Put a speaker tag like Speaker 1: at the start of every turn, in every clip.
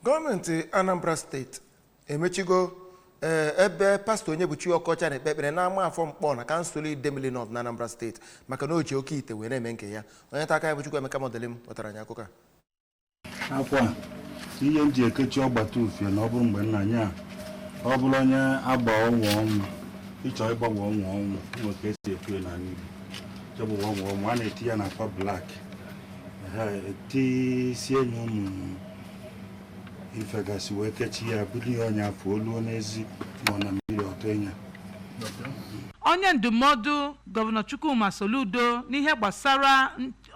Speaker 1: gọọmenti anambra steeti emechigo ee, ebe pastọ onyebuchi ọkọcha na-ekpe ekpere n'amafọ nkpọ na kansụl idemili nọt na anambra steeti maka na o ji oke ite wee na-eme nke ya onye nta akụkọ anyị bụ chukwuemeka modilim wetara anyị akụkọ a akwa
Speaker 2: a, ihe m ji ekechi ọgbata ufie na ọ bụrụ mgbe nna nye a ọ bụrụ onye agba ọnwa ọnwụ ịchọ ịgbanwe ọnwa ọnwụ nwe ka e si ekwu ya n'ala Igbo chọbụ ọnwa ọnwụ a na-eti ya na akwa blak etisie nye ụmụ ife gasị wee kechi ya bụrụ ihe ọnya afọ oluo n'ezi ma ọ na mmiri ọtọ
Speaker 3: ịnya onye ndụmọdụ gọvanọ chukwuma soludo n'ihe gbasara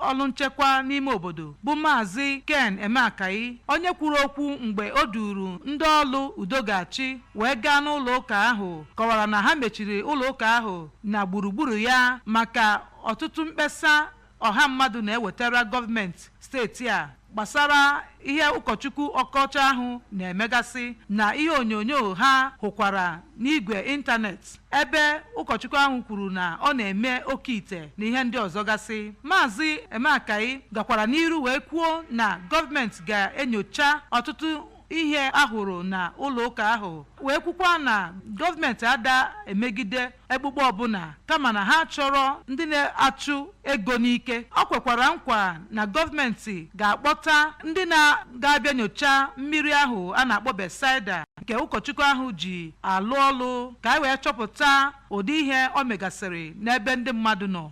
Speaker 3: ọrụ nchekwa n'ime obodo bụ maazị ken emeakayi onye kwuru okwu mgbe o duru ndị ọrụ udo ga-achị wee gaa n'ụlọ ụka ahụ kọwara na ha mechiri ụlọ ụka ahụ na gburugburu ya maka ọtụtụ mkpesa ọha mmadụ na-ewetara gọọmenti steeti a gbasara ihe ụkọchukwu ọkọcha ahụ na-emegasị na ihe onyonyo ha hụkwara n'igwe ịntanetị ebe ụkọchukwu ahụ kwuru na ọ na-eme oke ite na ihe ndị ọzọ gasị maazị emeakayi gakwara n'iru wee kwuo na gọọmenti ga-enyocha ọtụtụ ihe a hụrụ na ụlọ ụka ahụ wee kwukwa na gọọmenti ada emegide ekpukpe ọbụla kama na ha achọrọ ndị na-achụ ego n'ike o kwekwara nkwa na gọọmenti ga-akpọta ndị na-ga-abịa nyocha mmiri ahụ a na-akpọ Bethsaida nke ụkọchukwu ahụ ji alụ ọlụ ka e wee chọpụta ụdị ihe o megasịrị n'ebe ndị mmadụ nọ